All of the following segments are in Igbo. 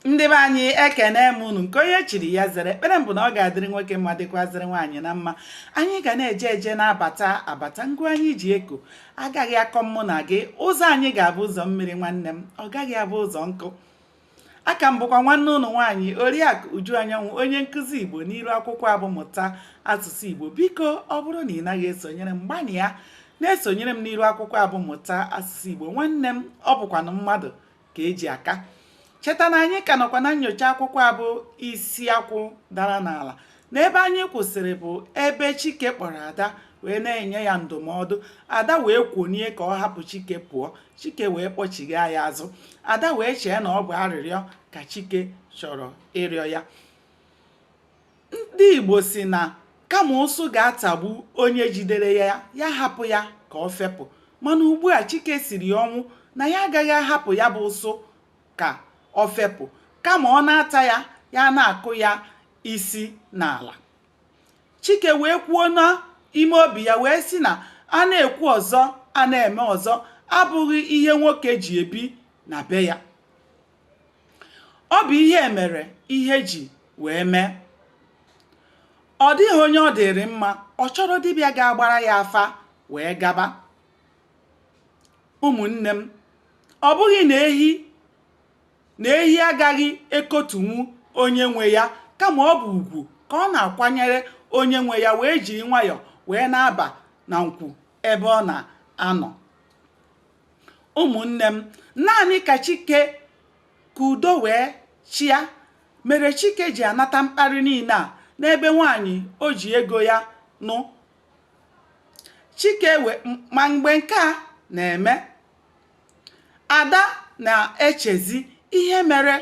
ndị be anyị ekene m unu nke onye chiri ya zere ekpere m bụ na ọ ga-adịrị nwoke mma dịkwazịrị nwaanyị na mma anyị ga na-eje eje na-abata abata ngụ anyị ji eko agaghị akọ mụ na gị ụzọ anyị ga-abụ ụzọ mmiri nwanne m ọ gaghị abụ ụzọ nkụ aka m bụkwa nwanne unu nwaanyị oriakụ uju anyanwụ onye nkụzi igbo n'iru akwụkwọ a bụ mụta asụsụ igbo biko ọ bụrụ na ị naghị esonyere m gbanịa na-esonyere m n'iru akwụkwọ a bụ mụta asụsụ igbo nwanne m ọ bụkwanụ mmadụ ka eji aka cheta na anyị ka nọkwa na nyocha akwụkwọ a bụ isi akwụ dara n'ala na ebe anyị kwụsịrị bụ ebe chike kpọrọ ada wee na-enye ya ndụmọdụ ada wee kwonie ka ọ hapụ chike pụọ chike wee kpọchigha ya azụ ada wee chee na ọ bụ arịrịọ ka chike chọrọ ịrịọ ya Ndị Igbo si na kama ụsụ ga-atagbu onye jidere ya ya hapụ ya ka ọ fepụ mana ugbu a Chike siri ya ọnwụ na ya agaghị ahapụ ya bụ ụsụ ka ọ fepụ kama ọ na-ata ya ya na-akụ ya isi n'ala Chike wee kwuo n'ime obi ya wee sị na a na-ekwu ọzọ a na-eme ọzọ abụghị ihe nwoke ji ebi na be ya Ọ bụ ihe e mere ihe ji wee mee. Ọ dịghị onye ọ dịrị mma, ọ chọrọ dibịa ga-agbara ya afa wee gaba. Ụmụnne m, ọ bụghị na ehi agaghị ekotunwu onye nwe ya kama ọ bụ ugwu ka ọ na-akwanyere onye nwe ya wee jiri nwayọọ wee na-aba na nkwu ebe ọ na-anọ. ụmụnne m naanị ka chike ka udo wee chịa mere chike ji anata mkparị niile a n'ebe nwaanyị o ji ego ya nụ chike ma mgbe nke a na-eme ada na-echezi ihe mere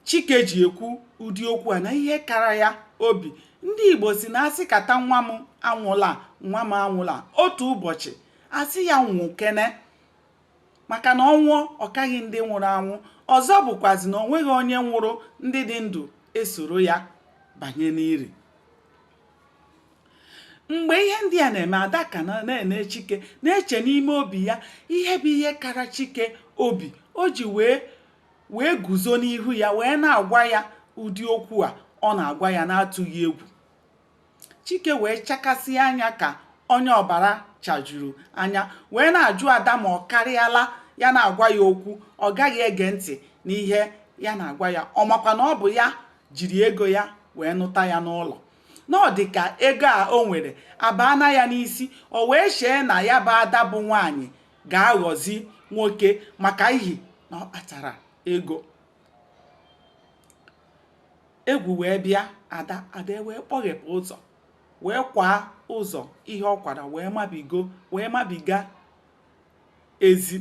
Chike ji ekwu ụdị okwu a na ihe kara ya obi. Ndị Igbo si na a sịkata nwa m anwụla nwa m anwụla otu ụbọchị a sị ya nwụkene maka na ọ nwụọ ọ kaghị ndị nwụrụ anwụ ọzọ bụkwazi na o nweghị onye nwụrụ ndị dị ndụ esoro ya banye n'iri mgbe ihe ndị a na-eme ada ka na-ene chike na-eche n'ime obi ya ihe bụ ihe kara chike obi o ji wee wee guzo n'ihu ya wee na-agwa ya ụdị okwu a ọ na-agwa ya na-atụghị egwu chike wee chakasịa anya ka onye ọbara chajuru anya wee na-ajụ ada ma ọ karịala ya na-agwa ya okwu ọ gaghị ege ntị n'ihe ya na-agwa ya ọ makwa na ọ bụ ya jiri ego ya wee nụta ya n'ụlọ na ọ dị ka ego a o nwere abaana ya n'isi o wee chee na ya bụ ada bụ nwaanyị ga-aghọzi nwoke maka ihi na ọ kpatara ego egwu wee bịa ada ada wee kpọghepụ ụzọ wee kwaa ụzọ ihe ọ kwara wee mabigo wee mabiga ezi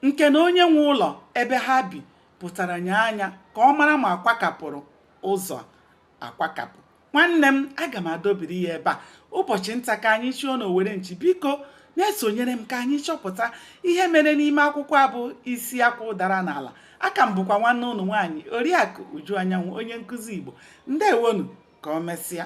nke na onye nwe ụlọ ebe ha bi pụtara nye anya ka ọ mara ma a kwakapụrụ ụzọ akwakapụ nwanne m aga m adọbiri ya ebe a ụbọchị nta ka anyị chụọ na owere nchi biko na-esonyere m ka anyị chọpụta ihe mere n'ime akwụkwọ a bụ isi akwụ dara n'ala aka m bụkwa nwanne ụnụ nwaanyị oriakụ uju anyanwụ onye nkụzi igbo ndewonụ ka ọ mesịa